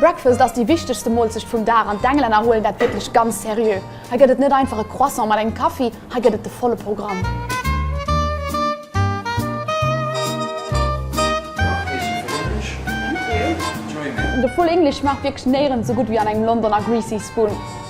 Breakfast ass déi wichtegste Molzecht vum Dag an d'Englänner huelen dat wierklech ganz seriö. Hei gëtt et net einfach e Croissant mat engem Kaffi, hei gëtt et de volle Programm. De Full English schmaacht wierklech néirens esou gutt wéi an engem Londoner Greasy Spoon.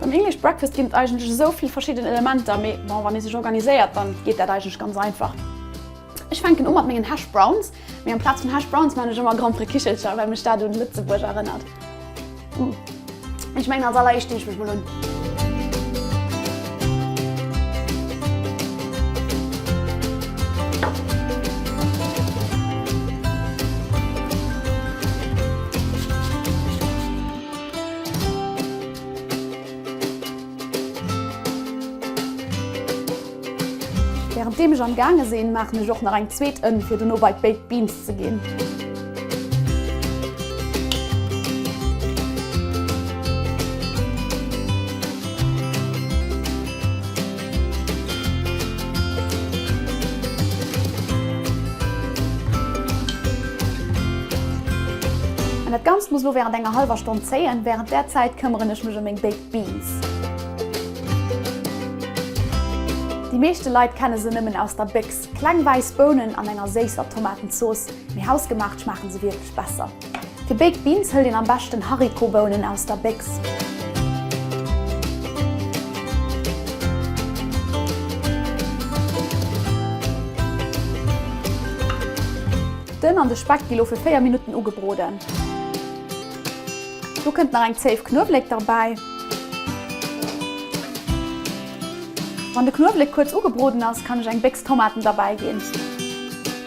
Beim English Breakfast ginn et eigentlech esou vill verschidden Elementer, mee bon, wann ee sech organiséiert, dann geet dat eigentlech ganz einfach. Ech fänken u mat mengen Hash Browns, mee amplaz vun Hash Browns maan ech ëmmer Grand-Prix Kichelcher, well mech dat un Lëtzebuerg erënnert. Uuh, ech mengen als alleréischt dinn ech mech mol un. Während deem ech am gaange sinn, maachen ech och nach eng zweet Ënn fir dono bei d'Baked Beans ze ginn. Dat Ganzt muss lo während enger halwer Stonn zéien. Während där Zäit këmmeren ech mech em meng Baked Beans. Déi meeschte Leit kenne se nëmmen aus der Béchs. Kleng wäiss Bounen an enger séisser Tomatenzooss, mee hausgemaacht schmaachen se wierklech besser. Fir Baked Beans hëlt een am beschten Haricotbounen aus der Béchs. D'Ënn an de Speck gi lo fir 4 Minutten ugebroden. Do kënnt nach eng Zéif Knuewléck derbäi. Wann de Knuewléck kuerz ugebroden ass, kann ech eng Béchs Tomaten derbäi ginn.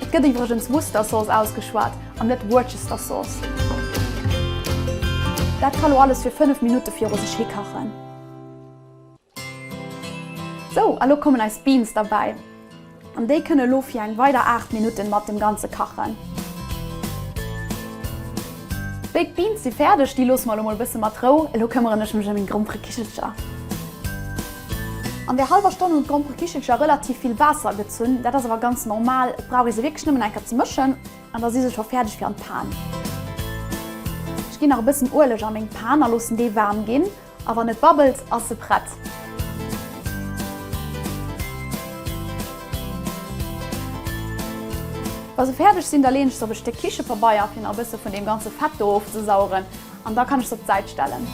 Et gëtt iwwregens Worcester Sauce ausgeschwat an net Worcester Sauce. Dat ka lo alles fir 5 Minutte viru sech hi kachen. Sou, a lo kommen eis Beans derbäi. An déi kënne lo fir eng weider 8 Minutten mat dem Ganze kachen. Béi d'Beans si fäerdeg, déi loosse mer lo mol e bësse mat Rou. Elo këmmeren ech mech ëm meng Gromperekichelcher. An där hallwer Stonn hunn d'Gromperekichelcher relativ vill Waasser gezunn. Dat ass awer ganz normal, et brauch ee se wierklech nëmmen eng Kéier ze mëschen an da si se scho fäerdeg fir an d'Pan. Ech ginn nach e bëssen Ueleg a meng Pan a loossen dee waarm ginn a wann et babbelt, ass se prett. Wa se fäerdeg sinn, da leeën ech se op e Stéck Kichepabeier fir nach e bësse vun deem ganze Fett do ofzesaugen. An da kann ech se op d'Säit stellen.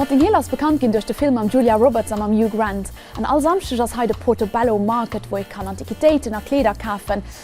Notting Hill ass bekannt ginn duerch de Film mam Julia Roberts a mam Hugh Grant. An all Samschdeg ass hei de Portobello Market, wou ee kann Antiquitéiten a Kleeder kafen.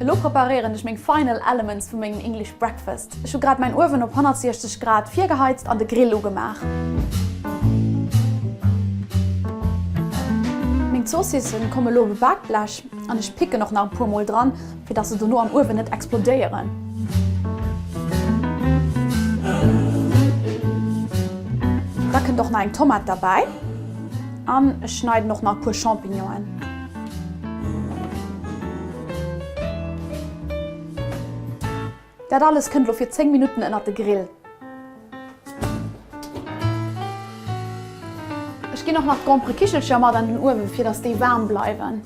Elo preparéieren ech meng final elements vu mengem English Breakfast. Ech hu grad mäin Uewen op 160 Grad virgeheizt an de Grill ugemaach. Meng Zoossissen komme lo op e Bakblech an ech picken och nach e puer mol dran, fir dass se dono am Uewen net explodéieren. Da kënnt och nach eng Tomat derbäi an ech schneiden och nach e puer Champignonen. Dat alles kënnt lo fir 10 Minutten ënnert de Grill. Ech ginn och nach d'Gromperekichelcher mat an den Uewen fir dass déi waarm bleiwen.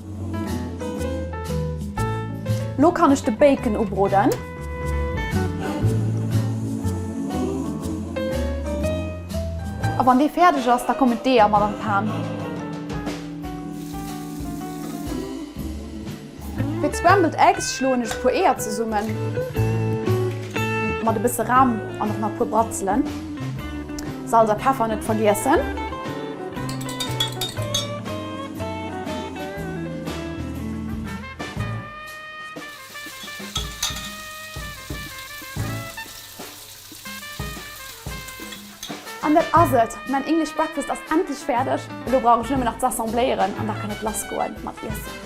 Lo kann ech de Bacon ubroden. A wann dee fäerdeg ass, da kommen d'Eeër mat an d'Pan. Fir d'scrambled eggs schloen ech e puer Eeër zesummen mat e bësse Ram an och nach e puer Bratzelen. Salz a Peffer net vergiessen. An dat ass et, mäin English Breakfast ass endlech fäerdeg. Elo brauch ech nëmmen nach ze assembléieren an da kann et lass goe mat iessen.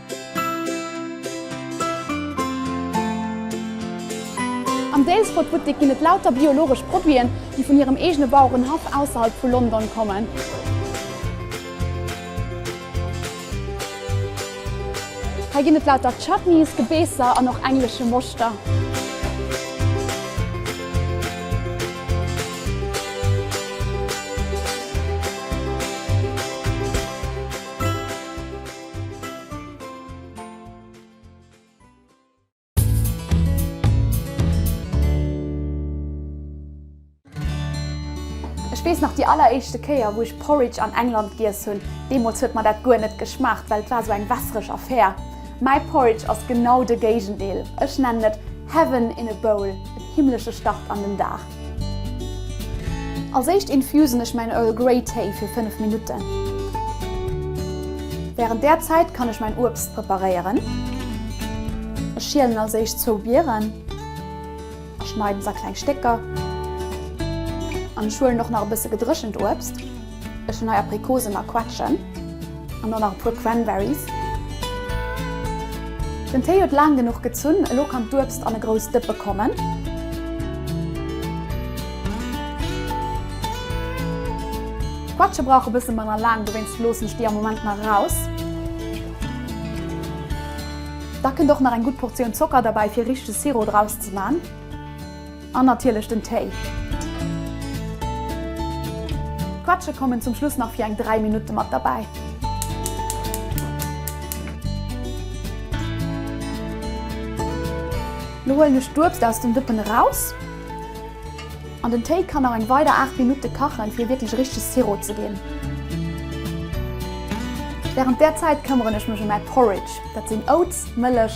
Am Daylesport-Buttek ginn et lauter biologesch Produiten, déi vun hirem eegene Bauerenhaff ausserhalb vu London kommen. Hei ginn et lauter Chutneys, Gebeesser an och englesche Moschter. Ech weess nach déi alleréischte Kéier, wou ech Porridge an England giess hunn. Deemools huet mer dat guer net geschmaacht, well et war esou eng wässereg Affär. Mäi Porridge ass genau de Géigendeel. Ech nennen et Heaven in a bowl, en himmlesche Start an den Dag. Als éischt infusen ech mäin Earl Grey Téi fir 5 Minutten. Wärend där Zäit kann ech mäin Uebst preparéieren. Ech schielen als éischt zwou Bieren a schneiden se a kleng Stécker an ech huelen och nach e bësse gedréchent Uebst. Ech hun hei Aprikosen a Quetschen an dann nach e puer Cranberries. Den Téi huet laang genuch gezunn, elo kann d'Uebst an e grouss Dëppe kommen. D'Quetsche brauche bësse manner laang, dowéinst loossen ech déi am Moment nach eraus. Da kënnt och nach eng gutt Portioun Zocker derbäi fir richtege Sirop draus ze man. An natierlech den Téi. D'Quetsche kommen zum Schluss nach fir eng 3 Minutte mat derbäi. Lo huelen ech d'Uebst aus dem Dëppen eraus. An den Téi kann nach eng weider 8 Minutte kachen, fir e wierklech richtege Sirop ze ginn. Wärend där Zäit këmmeren ech mech ëm mäi Porridge. Dat sinn Oats, Mëllech,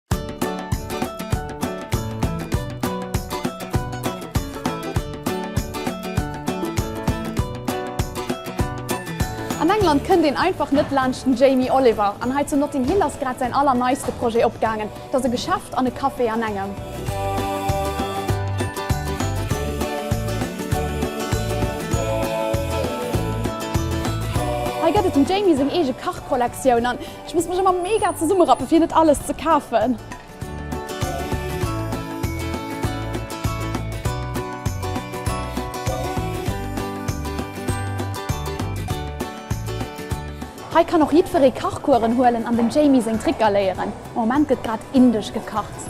An England kënnt een einfach net laanscht den Jamie Oliver, an hei zu Notting Hill ass grad säin allerneiste Projet opgaangen. Et ass e Geschäft an e Café an engem. Hei gëtt et dem Jamie seng eege Kachkollektioun. Ech muss mech ëmmer mega zesummerappen fir net alles ze kafen. Hei kann och jiddweree Kachkueren huelen an dem Jamie seng Tricker léieren. Am Moment gëtt grad indesch gekacht.